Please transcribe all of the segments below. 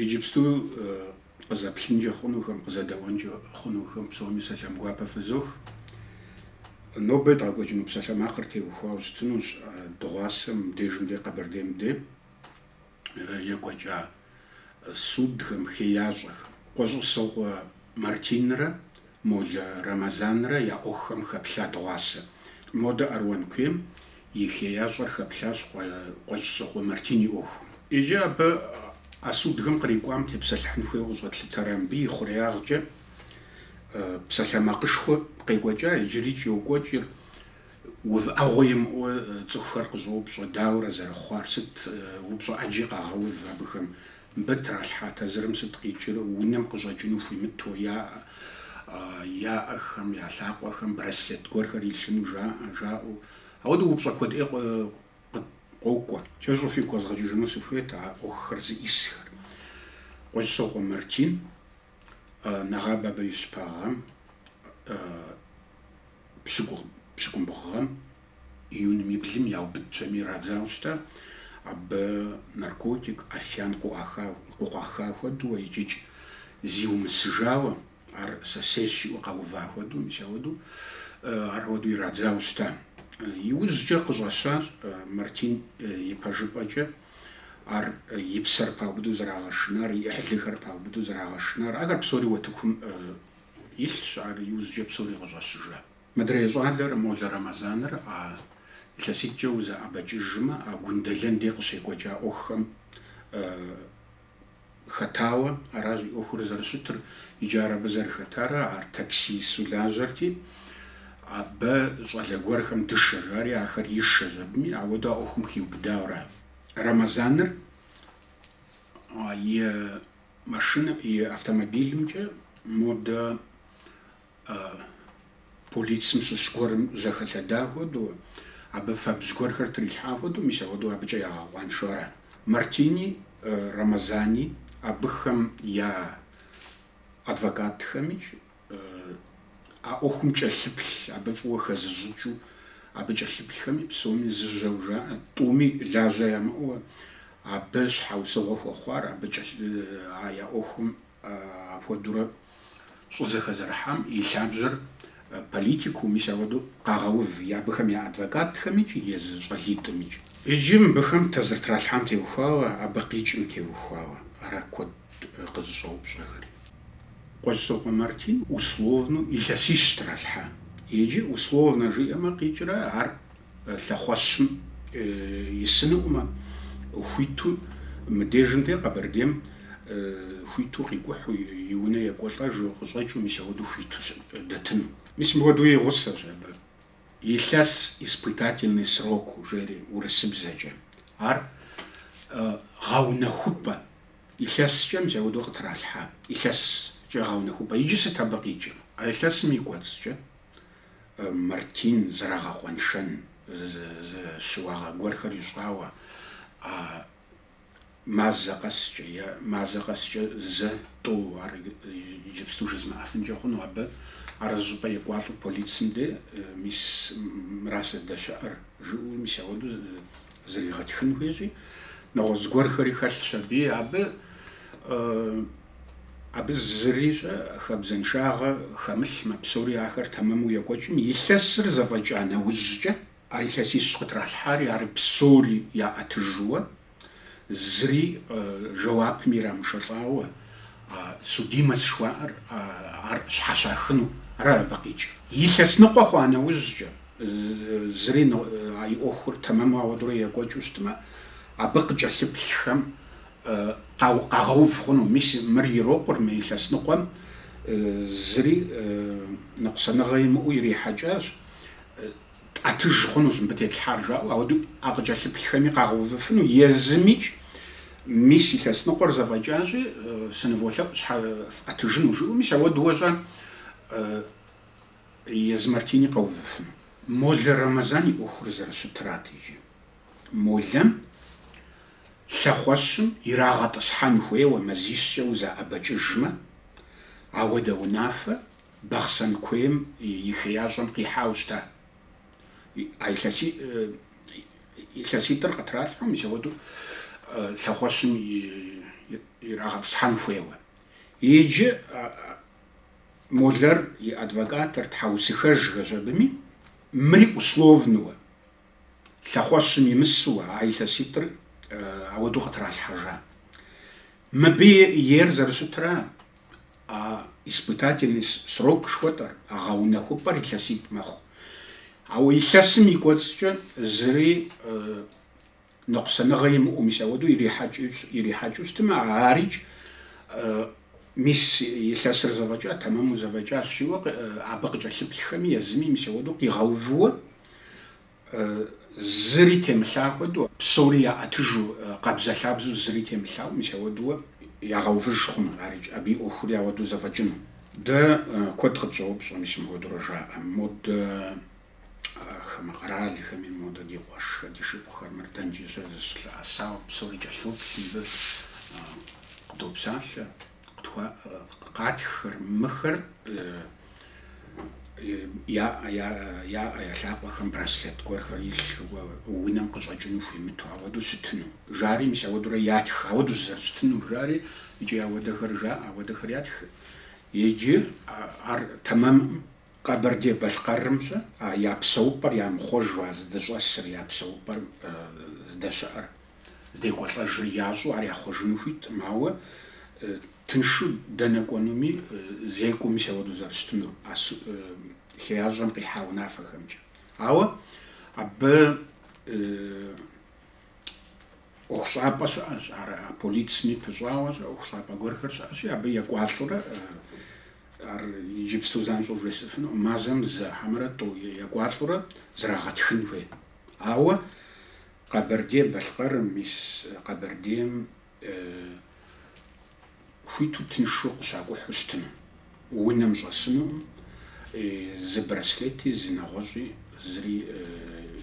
Иджыпсту къызэплъынкӏэ хъунухэм, къызэдэӏуэнкӏэ хъунухэм псоми сэлам гуапэ фызох. Нобэ едгъэкӏуэкӏыну псалъэмакъыр теухуауэ щытынущ дыгъуасэм, мыбдежым дей Къэбэрдейм дей екӏуэкӏа судхэм, хеящӏэхэм. Къуэщӏысокъуэ Мартинрэ Молэ Рэмэзанрэ я ӏуэхухэм хэплъа дыгъуасэ. Модэ Аруан куейм и хеящӏэр хэплъащ Къуэщӏысокъуэ Мартин и ӏуэхум. Иджы абы а судхэм кърикӏуам тепсэлъыхьын хуейуэ къыщӏэтлъытэрэ мыбы и хъуреягъкӏэ псалъэмакъышхуэ къекӏуэкӏа, иджырикӏ йокӏуэкӏыр увыӏэгъуэ имыӏэу цӏыхухэр къыщӏоупщӏэ, дауэрэ зэрыхъуар, сыт упщӏэ ӏэджи къагъэув абыхэм Мыбы тралъхьа тазырым сыт къикӏыр, унэм къыщӏэкӏыну хуимыту яӏэ, яӏэхэм, я лъакъуэхэм браслет гуэрхэр илъыну жаӏэ, жаӏэу. Ауэдэу упщӏэ куэд ӏей къокӏуэ. Кӏэщӏу фигу къэзгъэкӏыжыну сыхуейт а ӏуэхухэр зиӏысхэр. Къуэщӏысокъуэ Мартин, нэгъабэ абы и щыпэгъэм, пщыкӏу, пщыкӏубгъу гъэм. Июньым и блым яубыдщ абыми ирадзауэ щыта, абы наркотик, афиян къыкъуаха хуэдэу икӏикӏ зиумысыжауэ, ар сэ сейщ жиӏэу къэува хуэдэу, мис ауэдэу, ар хуэдэу ирадзауэ щыта. Иужькӏэ къыщӏэщащ Мартин ипэжыпӏэкӏэ ар и псэр паубыдэу зэрагъэшынар, и ӏыхьлыхэр паубыдэу зэрагъэшынар. Ахэр псори уэтыкум илъщ, ар иужькӏэ псори къыщӏэщыжа. Мыдрей щӏалэр Молэ Рэмэзаныр а илъэситӏкӏэ узэӏэбэкӏыжмэ, а Гундэлэн дей къыщекӏуэкӏа ӏуэхухэм хэтауэ аращ и ӏуэхур зэрыщытыр, иджы ар абы зэрыхэтарэ ар таксисту лажьэрти, абы щӏалэ гуэрхэм дышэ жари, ахэр ишэщ абыми, ауэдэу а ӏуэхум хиубыдауэ ара. Рэмэзаныр и машинэ, и автомобилымкӏэ модэ А полицым щыщ гуэрым жьэхэлъэда хуэдэу, абы фэбжь гуэрхэр трилъхьа хуэдэу, мис ахуэдэу абыкӏэ ягъэкъуаншэу ара. Мартини, Рэмэзани, абыхэм я адвокатхэмикӏ а ӏуэхум кӏэлъыплъ, абы фӏыуэ хэзыщӏыкӏыу абы кӏэлъыплъхэми псоми зы жьэу жаӏэ, тӏуми лажьэ ямыӏэу абы щхьэусыгъуэ хуэхъуар, абы а я ӏуэхум апхуэдэурэ Щӏызэхэзэрыхьам и лъабжьэр политикэу, мис ауэдэу къагъэув я абыхэм я адвокатхэмикӏ, езы щӏалитӏымикӏ. Иджы мыбыхэм тазыр тралъхьам теухуауэ, абы къикӏым теухуауэ ара куэд къызыщӏэупщӏэхэри. Къуэщӏысокъуэ Мартин условнэу илъэсищ тралъхьа. Иджы условнэ жиӏэмэ къикӏрэ ар лъэхъуэщым исынукъымэ, хуиту мыдежым де Къэбэрдейм хуиту къикӏухьу и унэ екӏуэлӏэжу къыщӏэкӏыу мис ауэду хуиту дэтыну. Мис мыхуэдэу и гъусэщ абы илъэс испытательный сроку жери урысыбзэкӏэ. Ар гъэунэхупӏэ илъэскӏэ мис ауэду къытралъхьа, илъэскӏэ гъэунэхупӏэ. Иджы сыт абы къикӏыр? А илъэсым и кӏуэцӏкӏэ Мартин зэрагъэкъуэншэн щыуагъэ гуэрхэр ищӏауэ, а мазэ къэскӏэ е мазэ къэскӏэ зэ тӏэу, ар иджыпсту жызмыӏэфынкӏэ хъуну абы, ар зыщӏыпӏэ екӏуалӏэу полицым де, мис мыра сыздэщыӏэр, жыӏэу, мис ауэду Зригъэтхын хуейщи, нэгъуэщӏ гуэрхэри хэлъщ аби, абы, абы зыри щӏэ, хабзэншагъэ хэмылъмэ, псори ахэр тэмэму екӏуэкӏым, илъэсыр зэфӏэкӏа нэужькӏэ, а илъэсищ къытралъхьари ар псори яӏэтыжууэ, зыри жэуапми ирамышэлӏауэ, судимость жыхуаӏэр ар щхьэщахыну, арат абы къикӏыр. Илъэс ныкъуэ хъуа нэужькӏэ, зыри а и ӏуэхур тэмэму ауэдэурэ екӏуэкӏыу щытмэ, абы къыкӏэлъыплъхэм къагъэув хъуну. Мис мыр ирокъур мы илъэс ныкъуэм, зыри ныкъусаныгъэ имыӏэу ирихьэкӏащ. Тӏэтыж хъунущ мыбы тетлъхьар жаӏэу, ауэдэу а къыкӏэлъыплъхэми къагъэувыфыну езымикӏ мис илъэс ныкъуэр зэфӏэкӏащи, сыныволъэӏу щхьэ фӏэтыжыну жыӏэу, мис ауэду уэщӏэ езы Мартини къэувыфыну. Молэ Рэмэзан и ӏуэхур зэрыщытырат иджы. Молэм лъэхъуэщым ирагъэтӏысхьэн хуейуэ мазищкӏэ узэӏэбэкӏыжмэ, ауэдэ унафэ Бахъсэн куейм и хеящӏэм къихьауэ щыта а илъэситӏыр къытралъхьэу, мис ауэдэу лъэхъуэщым ирагъэтӏысхьэн хуейуэ. Иджы Молэр и адвокатыр тхьэусыхэжхэщ абыми, мыри условнэуэ, лъэхъуэщым имысууэ, а илъэситӏыр ауэдэу къытралъхьэжа. Мыбы ейр зэрыщытра? А испытательный срок жыхуэтӏэр, а гъэунэхупӏэр илъэситӏ мэхъу. Ауэ илъэсым и кӏуэцӏкӏэ зыри ныкъусаныгъэ имыӏэу, мис ауэдэу ирихьэкӏыу щытмэ, арикӏ, мис илъэсыр зэфӏэкӏа, тэмэму зэфӏэкӏащ жиӏэу абы къыкӏэлъыплъхэми езыми мис ауэдэу къигъэувыуэ, Зыри темылъа хуэдэу, псори яӏэтыжу, къабзэ-лъабзэу зыри темылъау, мис ауэдэу ягъэувыж хъуну, ар икӏ, абы и ӏуэхури ауэдэу зэфӏэкӏыну? Дэ куэд къытщӏэупщӏэ, мис мыхуэдэурэ жаӏэ, модэ хамэ къэралхэми, модэ ди къуэшхэр, ди шыпхъухэр, мыр дэнкӏи щыӏэ, зыщылъэӏэсауэ псори кӏэлъоплъ мыбы, къыдопсалъэ. Къатххэр, мыхэр я ӏэ, я лъакъуэхэм браслет гуэрхэр илъу, унэм къыщӏэкӏыну хуимыту, ауэдэу щытыну жари мис ауэдэурэ ятх, ауэдэу зэрыщытынур жари, икӏи ауэдэхэр жаӏэ, ауэдэхэр ятхы. Иджы ар тэмэмӏым Къэбэрдей-Балъкъэрымкӏэ а я псэупӏэр ямыхъуэжу а зыдыщӏэсыр, я псэупӏэр здэщыӏэр, здекӏуэлӏэжыр ящӏэу ар яхъуэжыну хуиткъым, ауэ тыншу дэнэ кӏуэнуми зекӏуэу мис ауэдэу зэрыщытынур, а хеящӏэм къихьа унафэхэмкӏэ. Ауэ абы ӏуэхущӏапӏэ щыӏэщ, ар а полицэми пыщӏауэ щыӏэ ӏуэхущӏапӏэ гуэрхэр щыӏэщи, абы екӏуалӏэурэ ар иджыпсту занщӏэу вжесӏэфынукъым, мазэм зы хьэмэрэ тӏэу екӏуалӏэурэ зрагъэтхын хуейт. Ауэ Къэбэрдей-Балъкъэрым, мис Къэбэрдейм хуиту тыншу къыщакӏухьу щытыну, унэм щӏэсынукъым, зы браслети, зы нэгъуэщӏи, зыри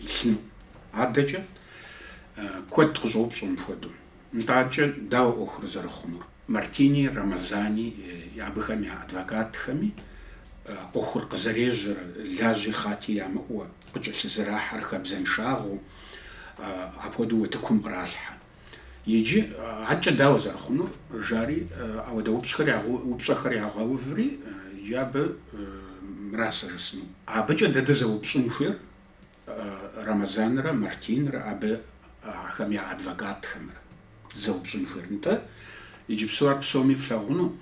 илъыну. Адэкӏэ куэд къыщӏоупщӏэ мыпхуэдэу. Нтӏэ адэкӏэ дауэ ӏуэхур зэрыхъунур? Мартини, Рамазани, абыхэм я адвокатхэми ӏуэхур къызэрежьэр, лажьи хъати ямыӏэу, къыкӏэлъызэрахьэр хабзэншагъэу апхуэдэу утыкум къралъхьэ. Иджы адэкӏэ дауэ зэрыхъунур? жари, ауэдэ упщӏхэр упщӏэхэр ягъэуври, иджы абы мыра сэ жысӏэну. Абыкӏэ дэ дызэупщӏын хуейр Рамазанрэ Мартинрэ, абы ахэм я адвокатхэмрэ дызэупщӏын хуейр. Нтӏэ, иджыпсу ар псоми флъагъуну.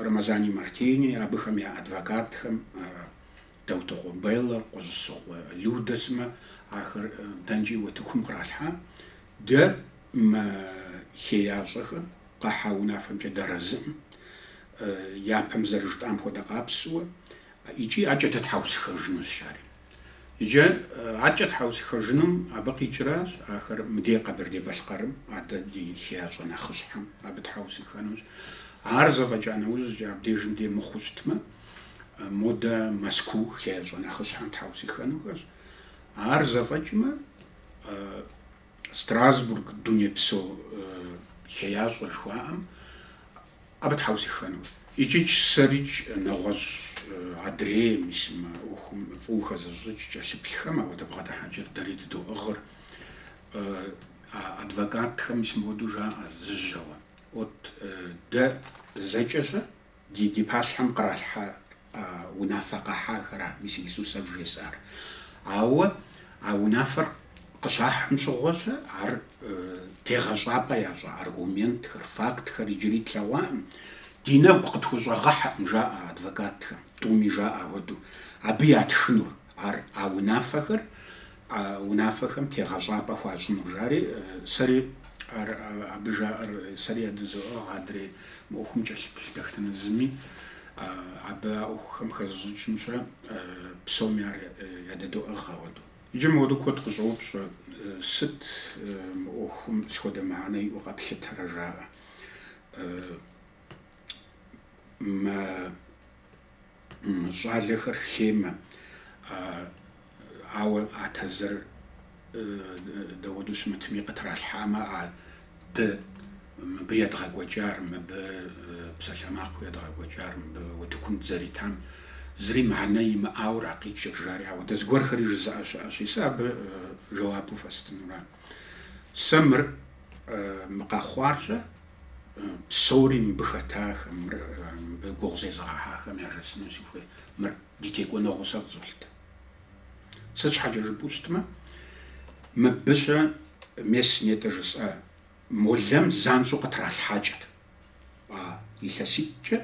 Рамазани Мартини, абыхэм я адвокатхэм, Даутокъуэ Беллэ, Къуэщӏысокъуэ Людэ сымэ, ахэр дэнкӏи утыкум къралъхьа, дэ мы хеящӏэхэм, къахьа унафэмкӏэ дэрэзыӏым, япэм зэрыжытӏам хуэдэ къабзэу икӏи адэкӏэ дытхьэусыхэжынущ жари. Иджы адэкӏэ тхьэусыхэжынум абы къикӏращ, ахэр мыдей Къэбэрдей-Балъкъэрым, адэ ди хеящӏэ нэхъыщхьэм абы тхьэусыхэнущ. Ар зэфӏэкӏа нэужькӏэ абдежым дей мыхъуу щытмэ, модэ Мэзкуу хеящӏэ нэхъыщхьэм тхьэусыхэнухэщ. Ар зэфӏэкӏмэ, Страсбург дунейпсо хеящӏэ жыхуаӏэм Абы тхьэусыхэну икӏикӏ сэрыкӏ нэгъуэщӏ адрейм, мы ӏуэхум фӏыуэ хэзыщӏыкӏ кӏэлъыплъхэм ауэдэ бгъэдыхьэкӏэр дэри дыдоӏыгъыр. А адвокатхэм мыуэдэу жаӏэ зыжьэуэ, Вот дэ зэкӏэ-щэ ди пащхьэм къралъхьа А унафэ къахьахра, мис иджыпсту сэ вжесӏар? Ауэ а унафэр къыщахьым щыгъуэ-щэ, ар тегъэщӏапӏэ ящӏа аргументхэр, фактхэр иджыри тлъэгъуакъым. Ди нэгу къытхущӏэгъэхьэкъым, жаӏэ адвокатхэм, тӏуми жаӏэ хуэдэу, абы ятхынур, ар а унафэхэр А унафэхэм тегъэщӏапӏэ хуащӏыну, жари, сэри ар абы жаӏэр, сэри ядызоӏыгъ адрей мы ӏуэхум кӏэлъыплъ дэтхэнэ зыми, абы а ӏуэхухэм хэзыщӏыкӏымкӏэ псоми ар ядэдоӏыгъ ауэдэу. Иджы мыуэдэу куэд къыщӏоупщӏэ, сыт мы ӏуэхум сыт хуэдэ мыхьэнэ иӏэу къэплъытэрэ жаӏэ. Мэ Щӏалэхэр хеймэ, ауэ а тазыр дауэдэу щымытми къытралъхьамэ, а дэ мыбы едгъэкӏуэкӏар, мыбы псалъэмакъыу едгъэкӏуэкӏар, мыбы утыкум дызэритам зыри мыхьэнэ имыӏауэ ара къикӏыр, жари ауэдэ зыгуэрхэри жызыӏэ щыӏэщи, сэ абы жэуапу фэстынура. Сэ мыр мы къэхъуар-щэ, Псори мыбы хэтахэм, мыр мыбы гугъу зезыгъэхьахэм яжесӏэну сыхуей. Мыр ди текӏуэныгъэу сэ къызолъытэ. Сыт щхьэкӏэ жыпӏэу щытмэ, мыбы-щэ мес нетӏэ жысӏа Молэм занщӏэу къытралъхьакӏэт. А илъэситӏкӏэ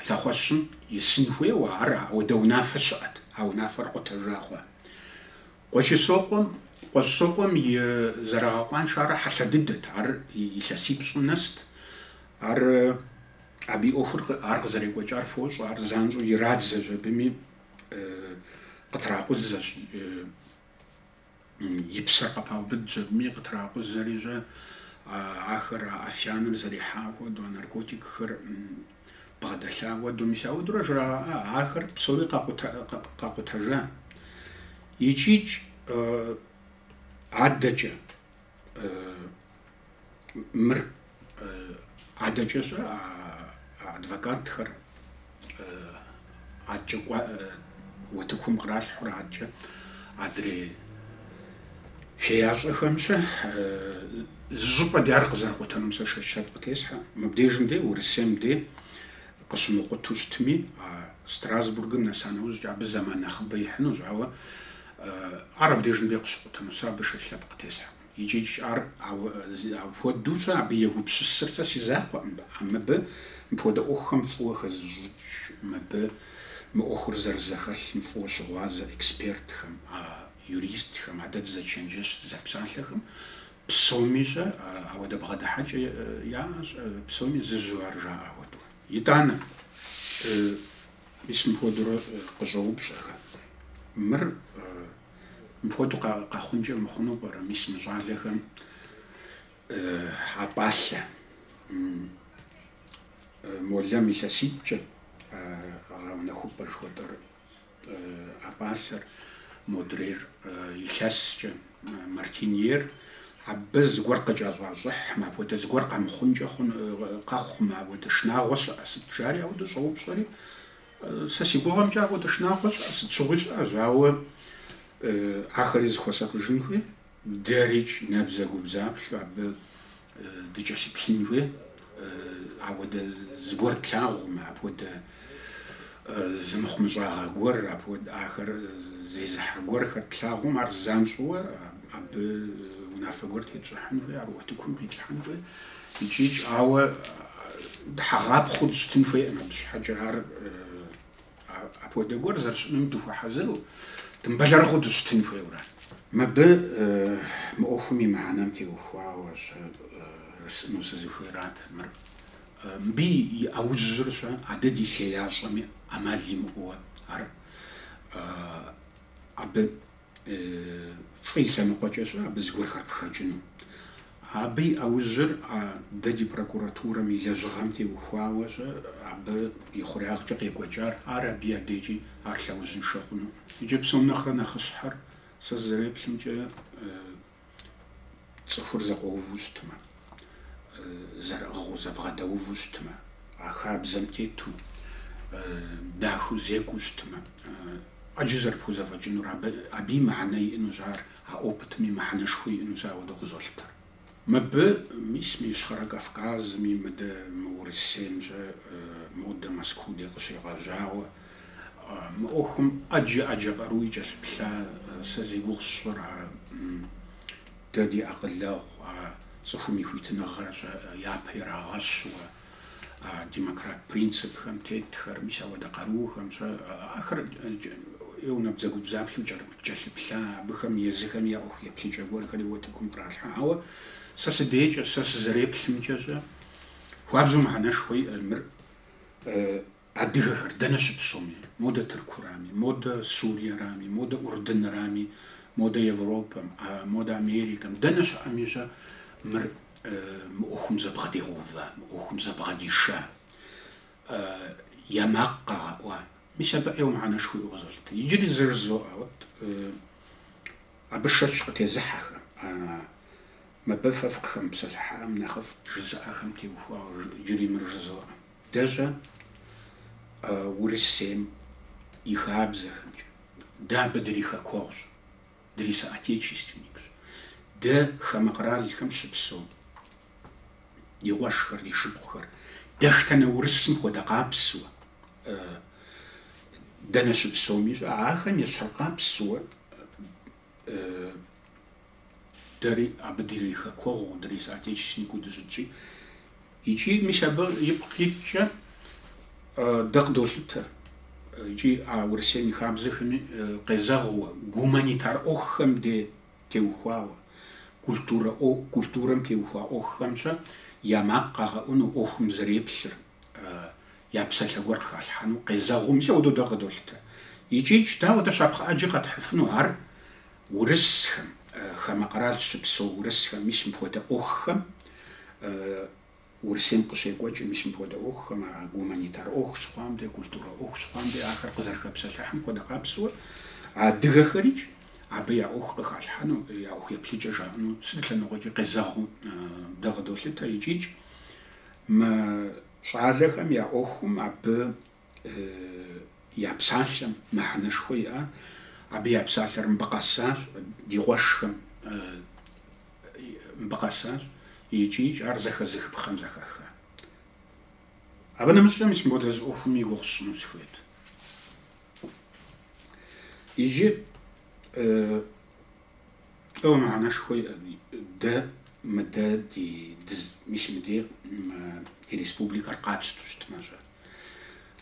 лъэхъуэщым исын хуейуэ, ар ауэдэ унафэ щыӏэт, а унафэр къутэжа хъуа. Къуэщӏысокъуэм, Къуэщӏысокъуэм и зэрагъэкъуаншар хьэлъэ дыдэт, ар илъэсипщӏым нэст, ар абы и ӏуэхур ар къызэрекӏуэкӏар фощӏэ, ар занщӏэу ирадзэщ абыми, къытракъузэщ. и псэр къыпаубыд жыпӏэми, къытракъузэри-щэ, ахэр а афияныр зэрихьа хуэдэу, а наркотикхэр бгъэдэлъа хуэдэу, мис ауэдурэ жрагъэӏа, ахэр псори къэкъутэжа. Икӏикӏ адэкӏэ, мыр адэкӏэ-щэ адвокатхэр адкӏэ кӏуа утыкум къралъхьурэ адкӏэ адрей хеящӏэхэм-щэ зы щӏыпӏэ дей ар къызэрыкъутэнум сэ шэч лъэпкъ къытесхьэ. Мыбдежым дей, Урысейм дей къыщымыкъуту щытми, а Страсбургым нэса нэужькӏэ абы зэман нэхъыбэ ихьынущ, ауэ Ар абдежым дей къыщыкъутыну, сэ абы шэч лъэпкъ къытесхьэркъым. Икӏи ар ауэ апхуэдэу-щэ абы егупсысыр сэ си закъуэкъым, а мыбы мыпхуэдэ ӏуэхухэм фӏыуэ хэзыщӏыкӏ, мыбы мы ӏуэхур зэрызэхэлъым фӏыуэ щыгъуазэ экспертхэм, а юристхэм, а дэ дызэчэнджэщ дызэпсалъэхэм псоми-щэ ауэдэ бгъэдыхьэкӏэ яӏэщ, псоми зыжьу ар жаӏэ хуэдэу. Итӏанэ, Мис мыпхуэдэурэ къыщӏоупщӏэхэ, мыр мыпхуэдэу къэхъункӏэ мыхъуну пӏэрэ? Мис мы щӏалэхэм а пӏалъэ молэм илъэситӏкӏэ гъэунэхупӏэ жыхуэтӏэр, а пӏалъэр модрейр илъэскӏэ, Мартин ейр абы зыгуэр къыкӏэщӏащӏыхьмэ, апхуэдэ зыгуэр къэмыхъункӏэ хъун, къэхъумэ, ауэдэ шынагъуэ щыӏэ сыт? жари ауэдэ щӏэупщӏэри, сэ си гугъэмкӏэ ауэдэ шынагъуэ щыӏэ, сыт щыгъуи щыӏэщ, ауэ ахэри зыхуэсакъыжын хуей, дэрикӏ, набдзэгубдзаплъэу абы Дыкӏэлъыплъын хуей, ауэдэ зыгуэр тлъагъум, апхуэдэ зымыхъумыщӏагъэ гуэр, апхуэдэ ахэр зезыхьэ гуэрхэр тлъагъум, ар занщӏэуэ абы унафэ гуэр тетщӏыхьын хуей, ар утыкум къитлъхьэн хуей икӏи, ауэ дыхьэгъапхъэу дыщытын хуейкъым, абы щхьэкӏэ ар Апхуэдэ гуэр зэрыщыӏэным дыхуэхьэзыру, дымыбэлэрыгъыу дыщытын хуейуэ ара. Мыбы мы ӏуэхум и мыхьэнэм теухуауэ-щэ жысӏэну сызыхуейрат мыр. Мыбы и ӏэужьыр-щэ, а дэ ди хеящӏэми ӏэмал имыӏэуэ ар абы Фӏы и лъэныкъуэкӏэ-щэ абы зыгуэрхэр къыхэкӏыну. Абы и ӏэужьыр а дэ ди прокуратурэм и лэжьыгъэм теухуауэ-щэ абы и хъуреягъкӏэ къекӏуэкӏар, ар абы и адэкӏи ар лъэужьыншэ хъунукъым. Икӏи псом нэхърэ нэхъыщхьэр, сэ сызэреплъымкӏэ, цӏыхур зэкъуэуву щытмэ, зэрыӏыгъыу, зэбгъэдэуву щытмэ, а хабзэм тету, дахэу зекӏуу щытмэ, ӏэджэ зэрыпхузэфӏэкӏынур, абы, абы и мыхьэнэ иӏэнущ ар, а опытми мыхьэнэшхуэ иӏэнущ ауэдэу къызолъытэр. Мыбы, мис мы Ищхъэрэ Кавказми, мыдэ, мы Урысейм-щэ, модэ Мэзкуу дей къыщегъэжьауэ, Мы ӏуэхум ӏэджэ ӏэджэ къаруи кӏэлъыплъа сэ зи гугъу сщӏыр а дэ ди акъылэгъу, а цӏыхум и хуитыныгъэр-щэ япэ ирагъэщуэ, а демократ принципхэм тетхэр, мис ауэдэ къарухэм-щэ ахэри набдзэгубдзаплъэу кӏэлъыплъа, абыхэм езыхэми я ӏуэху еплъыкӏэ гуэрхэри утыкум къралъхьэ. Ауэ сэ си дейкӏэ, сэ сызэреплъымкӏэ-щэ хуабжьу мыхьэнэшхуэ иӏэ мыр Адыгэхэр дэнэ щыпсэуми, модэ Тыркурами, модэ Суриерами, модэ Урдынрами, модэ Европэм, модэ Америкэм, дэнэ щыӏэми щӏэ, мыр мы ӏуэхум зэбгъэдигъэува, мы ӏуэхум зэбгъэдиша, я макъ къагъэӏуа. Мис абы ӏейуэ мыхьэнэшхуэ иӏэу къызолъытэ. Иджыри зэ жызоӏэ, уэт абы шэч къытезыхьэхэм, мыбы фэ фыкъыхэмыпсэлъыхьам нэхъыфӏт жызыӏэхэм теухуауэ иджыри мыр жызоӏэ. Дэ щӏэ, Урысейм и хабзэхэмкӏэ, дэ абы дрихэкуэгъущ, дрисоотечественникщ. Дэ хамэ къэралхэм щыпсэу ди къуэшхэр, ди шыпхъухэр дэхтэнэ урысым хуэдэ къабзэу, дэнэ щыпсэуми щӏэ, ахэм ещхьыркъабзэу. Дэри абы дрихэкуэгъуу, дрисоотечественникыу дыщыткӏи. Икӏи, мис абы ипкъ иткӏэ дэ къыдолъытэ икӏи а Урысейм и хабзэхэми къезэгъыуэ, гуманитар ӏуэхухэм де теухуауэ, культурэ культурэм теухуа ӏуэхухэмкӏэ я макъ къагъэӏуну, ӏуэхум зэреплъыр, я псалъэ гуэр къыхалъхьэну къезэгъыу, мис апхуэдэу дэ къыдолъытэ. Икӏи, дауэ, дэ щапхъэ ӏэджи къэтхьыфыну ар. урысхэм, хамэ къэрал щыпсэу урысхэм, мис мыпхуэдэ ӏуэхухэм, Урысейм къыщекӏуэкӏ, мис мыпхуэдэ ӏуэхухэм, а гуманитар ӏуэху щыхъуам де, культурэ ӏуэху щыхъуам де, ахэр къызэрыхэпсэлъыхьым хуэдэ къабзэу, адыгэхэрикӏ абы я ӏуэху къыхалъхьэну, я ӏуэху еплъыкӏэ жаӏэну сыт лъэныкъуэкӏи къезэгъыу дэ къыдолъытэ икӏикӏ мы щӏалэхэм я ӏуэхум абы я псалъэм мыхьэнэшхуэ иӏа, абы я псалъэр мыбы къэсащ, ди къуэшхэм мыбы къэсащ икӏикӏ ар зэхэзыхыпхъэм зэхэха. Абы нэмыщӏкӏэ мис мыпхуэдэ зы ӏуэхум и гугъу сщӏыну сыхуейт. Иджы ӏейуэ мыхьэнэшхуэ иӏэт, дэ мыдэ ди, мис мыдей мы ди республикэр къатщтэу щытмэ щӏэ.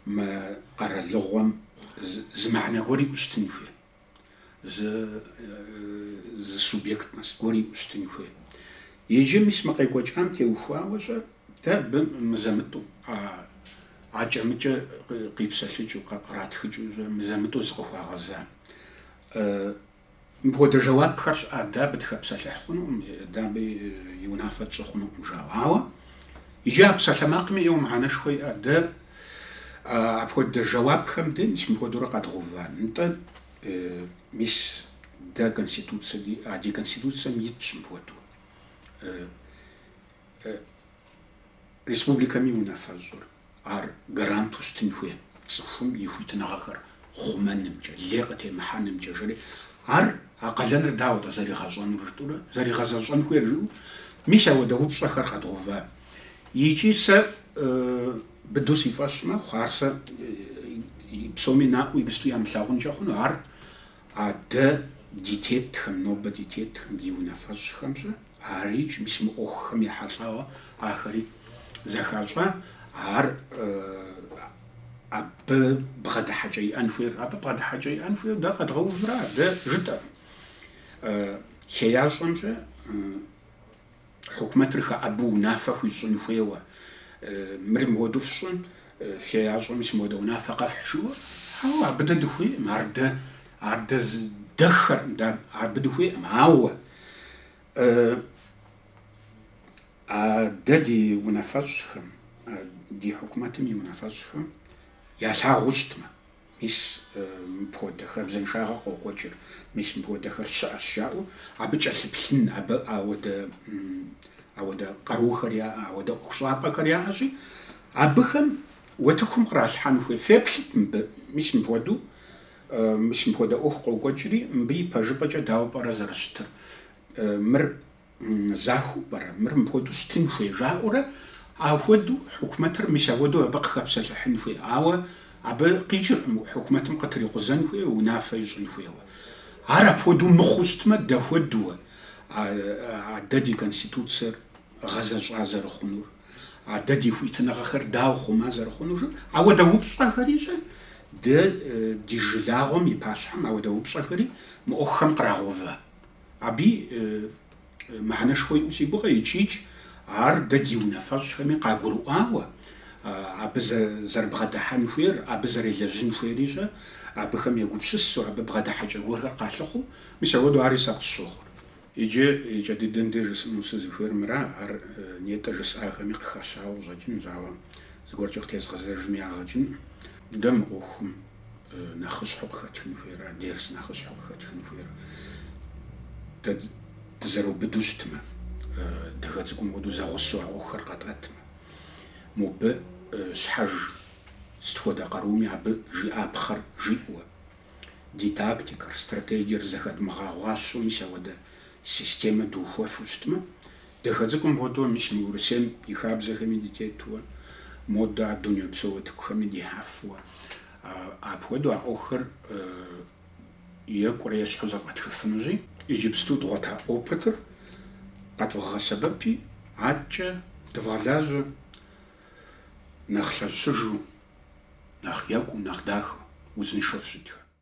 Мы къэралыгъуэм зы мыхьэнэ гуэр иӏэу щытын хуей, зы субъектность гуэр иӏэу щытын хуей. Иджы, мис, мы къекӏуэкӏам теухуауэ щӏэ, дэ абы мызэ-мытӏэу, акӏэ-мыкӏэ къипсэлъыкӏыу, къратхыкӏыу щӏэ, мызэ-мытӏэу зыкъыхуагъэза Мыпхуэдэ жэуапхэр щыӏат, дэ абы дыхэпсэлъыхь хъунукъым, дэ абы и унафэ тщӏы хъунукъым, жаӏэу. Ауэ иджы а псалъэмакъми ӏейуэ мыхьэнэшхуэ иӏэт, дэ апхуэдэ жэуапхэм де мис мыпхуэдэурэ къэдгъэуван, нтӏэ, мис дэ конституцэ диӏэ, а ди конституцэм итщ мыпхуэдэу. Республикэм и унафэщӏыр ар гаранту щытын хуей цӏыхум и хуитыныгъэхэр хъумэнымкӏэ, лей къытемыхьэнымкӏэ, жери, ар а къалэныр дауэт зэригъэщӏэнур жытӏурэ, зэригъэзэщӏэн хуейр жыӏэу, мис ауэдэ упщӏэхэр къэдгъэува. Икӏи сэ быдэу си фӏэщ мэхъу ар сэ псоми наӏуэу иджыпсту ямылъагъункӏэ хъуну, ар А дэ ди тетхэм, нобэ ди тетхэм, ди унафэщӏхэм щэ арикӏ мис мы ӏуэхухэм ехьэлӏауэ ахэри зэхащӏа, ар абы бгъэдыхьэкӏэ иӏэн хуейр. Абы бгъэдыхьэкӏэ иӏэн хуейр дэ къэдгъэувра, дэ жытӏэркъым. Хеящӏэм щэ, Хьукумэтыр хэӏэбу унафэ хуищӏын хуейуэ, мыр мыуэду фщӏын, хеящӏэм мис мыуэдэ унафэ къэфхь жиӏэуэ, ауэ абы дэ дыхуейкъым, ар дэ, ар дэ здэххэркъым, дэ абы дыхуейкъым, ауэ а дэ ди унафэщӏхэм, ди хьукумэтым и унафэщӏхэм ялъагъуу щытмэ, Мис мыпхуэдэ хабзэншагъэ къокӏуэкӏыр, мис мыпхуэдэхэр щыӏэщ жаӏэу абы кӏэлъыплъын, абы ауэдэ ауэдэ къарухэр яӏэ, ауэдэ ӏуэхущӏапӏэхэр яӏэщи, абыхэм утыкум къралъхьэн хуей. Феплъыт мыбы, мис мыпхуэдэу, мис мыпхуэдэ ӏуэху къокӏуэкӏри, мыбы и пэжыпӏэкӏэ дауэ пӏэрэ зэрыщытыр? Мыр. Захуэу пӏэрэ мыр мыпхуэдэу щытын хуей жаӏэурэ, ахуэдэу хьукумэтыр мис ахуэдэу абы къыхэпсэлъыхьын хуей, ауэ абы къикӏыркъым хьукумэтым къытрикъузэн хуейуэ, унафэ ищӏын хуейуэ. Ар апхуэдэу мыхъуу щытмэ, дэхуэдэуэ а дэ ди конституцэр гъэзэщӏа зэрыхъунур, а дэ ди хуитыныгъэхэр дауэ хъума зэрыхъунур жып, ауэдэ упщӏэхэри щэ дэ ди жылагъуэм и пащхьэм ауэдэ упщӏэхэри мы ӏуэхухэм кърагъэувэ. Абы мыхьэнэшхуэ иӏэу си гугъэ, икӏикӏ, ар дэ ди унафэщӏхэми къагурыӏуауэ, абы зэрыбгъэдыхьэн хуейр, абы зэрелэжьын хуейри щэ, абыхэм егупсысу, абы бгъэдыхьэкӏэ гуэрхэр къалъыхъуу, мис ауэду ари сэ къысщохъур. Иджы и кӏэ дыдэм деж жысӏэну сызыхуейр мыра, ар нетӏэ жысӏахэми къыхэщауэ къыщӏэкӏынущ, ауэ зыгуэркӏэ къытезгъэзэжми ягъэ кӏынкъым. Дэ мы ӏуэхум нэхъыщхьэу къыхэтхын хуейра, дерс нэхъыщхьэу къыхэтхын хуейр? Дэ дызэрыубыду щытмэ, адыгэ цӏыкӏум хуэдэу зэгъусэу а ӏуэхухэр къатӏэтмэ, мобы щхьэж сыт хуэдэ къаруми абы жиӏапхъэр жиӏэуэ, ди тактикэр, стратегиер зэхэдмыгъэгъуащэу мис ауэдэ системэ духуэфу щытмэ, Дахэ цӏыкӏум хуэдэу мис мы Урысейм и хабзэхэми дытетуэ, модэ дунейпсо утыкухэми дихьэфуэ. Апхуэдэу а ӏуэхухэр екӏурэ ещхьу зэфӏэтхыфынущи. Иджыпсту дгъуэта опытыр къэдвгъэгъэсэбэпи, аткӏэ дывгъэлажьэ нэхъ лъэщыжу, нэхъ екӏуу, нэхъ дахэу, узыншэу фыщытхэ.